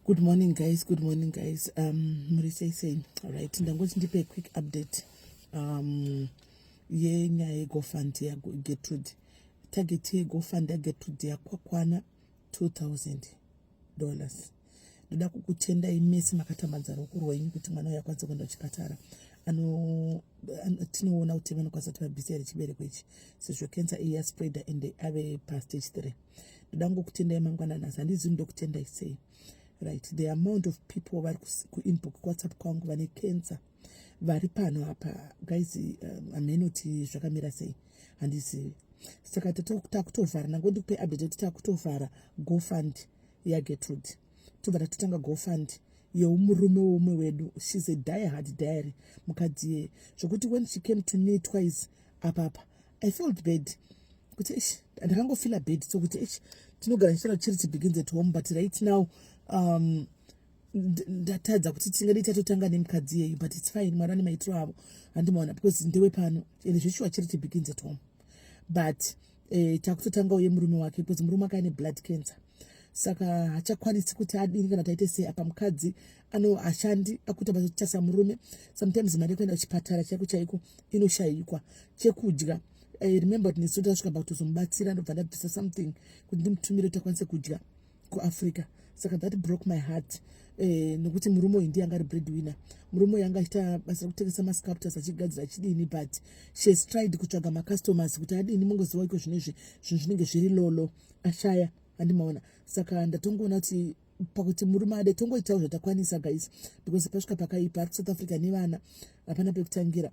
good morning guys good morning guys um muri sei sei right ndangoti ndipe quick update um yenyaya yegofund yagetrude target yegofund yagetrude yakwakwana 2000 dollars ndoda kukutendai mese makatambadza ruoko rwenyu kuti mwana uyo akwanise kuenda kuchipatara ano tinoona kuti vanokwanisa kuti vabhisere chibereko ichi sezvo cancer iya spreader and ave pastage three ndoda ngokutendai mangwana nhasi handizivi ndokutendai sei right the amount of people vari kuinbox kuwhatsapp kwangu vane cancer vari pano apa guys um, amenoti zvakamira sei handizivi saka takutovhara nango ndikupe update kuti takutovhara gofund yagetrude ya tobva tatotanga gofund yeumurume weumwe wedu shes a die hard diary mukadzi yeye zvokuti when she came to me twice apapa i felt bad kuti ish ndakangofila bad sokuti ish tinogara ndichitaura chiri chibegins at home but right now um, ndatadza kuti tinge ndichatotanga nemukadzi yeyu but its fine mwari ane maitiro avo handimaona because ndewe pano and zveshuwa chiri chibegins at home but eh, takutotanga uye murume wake because murume wake ane blood cancer saka hachakwanisi kuti adini kana taite sei apa mukadzi ano hashandi akuita basa murume sometimes mari yekuenda kuchipatara chaiko chaiko inoshayikwa chekudya i remember kuti nesu tasvika pakutozomubatsira ndobva ndabvisa something kuti ndimutumire kuti akwanise kudya kuafrica saka that broke my heart eh, nokuti murume uyu ndiye anga ari bread winner murume uyu anga achiita basa rekutengesa masculptures achigadzira achidini but she has tried kutsvaga macustomers kuti adini mungoziva iko zvino izvi zvinhu zvinenge zviri lolo ashaya andimaona saka ndatongoona kuti pakuti murume ade tongoitawo zvatakwanisa guys because pasvika pakaipa ari kusouth africa nevana hapana pekutangira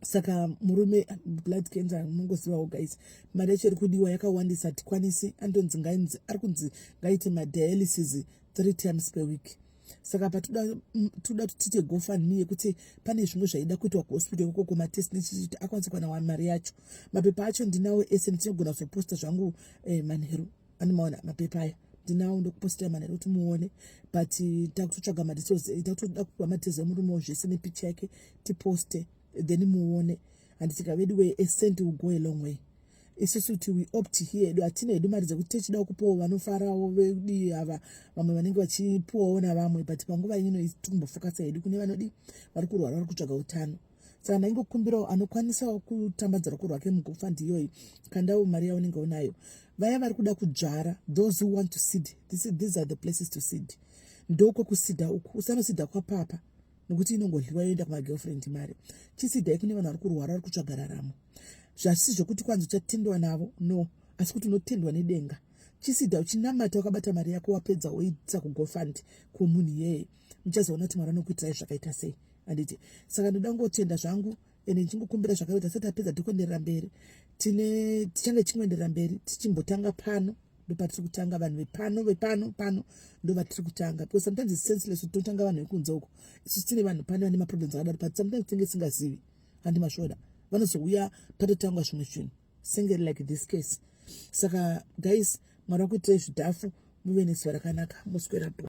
saka murume blood cancer munongozivawo guys mari yacho iri kudiwa yakawandisa hatikwanisi andonzi ngainzi ari kunzi ngaite madialysis three times per week saka patoda mm, toda kuti tiite gofundme yekuti pane zvimwe zvaida kuitwa kuhospital ikoko kumatest nechititi akwanise kuwana mari yacho mapepa acho ndinawo ese ndichinogona kuzoposta zvangu eh, manheru ani maona mapepa aya ndinawo ndokupostira manhare kuti muone but takutotsvaga madetails takutoda kupa madetails emurume wo zvese nepicha yake tiposte then muone and tika vedu way a cent will go a long way isusu kuti we opt here edu hatina hedu mari dzekuti techida kupawo vanofarawo vedii ava vamwe vanenge vachipuwawo navamwe but panguva ino itikumbofocusa hedu kune vanodii vari kurwara vari kutsvaga utano saka ndaingokumbirawo anokwanisawo kutambadza ruko rwake mugufa ndiyoyi kandawo mari yaunenge unayo vaya vari kuda kudzvara those who want to seed this, these are the places to seed ndokwe kusida uku usanosida kwapapa nokuti inongodliwa yoenda kumagirlfriend mari chisidai kune vanhu vari kurwara vari kutsvaga raramo zvasisi zvekuti kwanzi uchatendwa navo no asi kuti unotendwa nedenga chisida uchinamata wakabata mari yako wapedza woitisa kugofund kwomunhu iyeye muchazoona kuti mwari anokuitirai zvakaita sei handiti saka ndoda kungotenda zvangu ende ndichingokumbira zvakaita tisati tapedza tikuenderera mberi tine tichange tichingoenderera mberi tichimbotanga pano ndopatisiri kutanga vanhu vepano vepano pano ndovatiri kutanga because sometimes its senseless kuti totanga vanhu vekunze uko isu tine vanhu pane vane maproblems akadaro but sometimes tinge isingazivi handi masvoda vanozouya patotangwa zvimwe zvinhu singe like this case saka guys mwari wakuitirai zvidhafu muve nezuva rakanaka moswera bho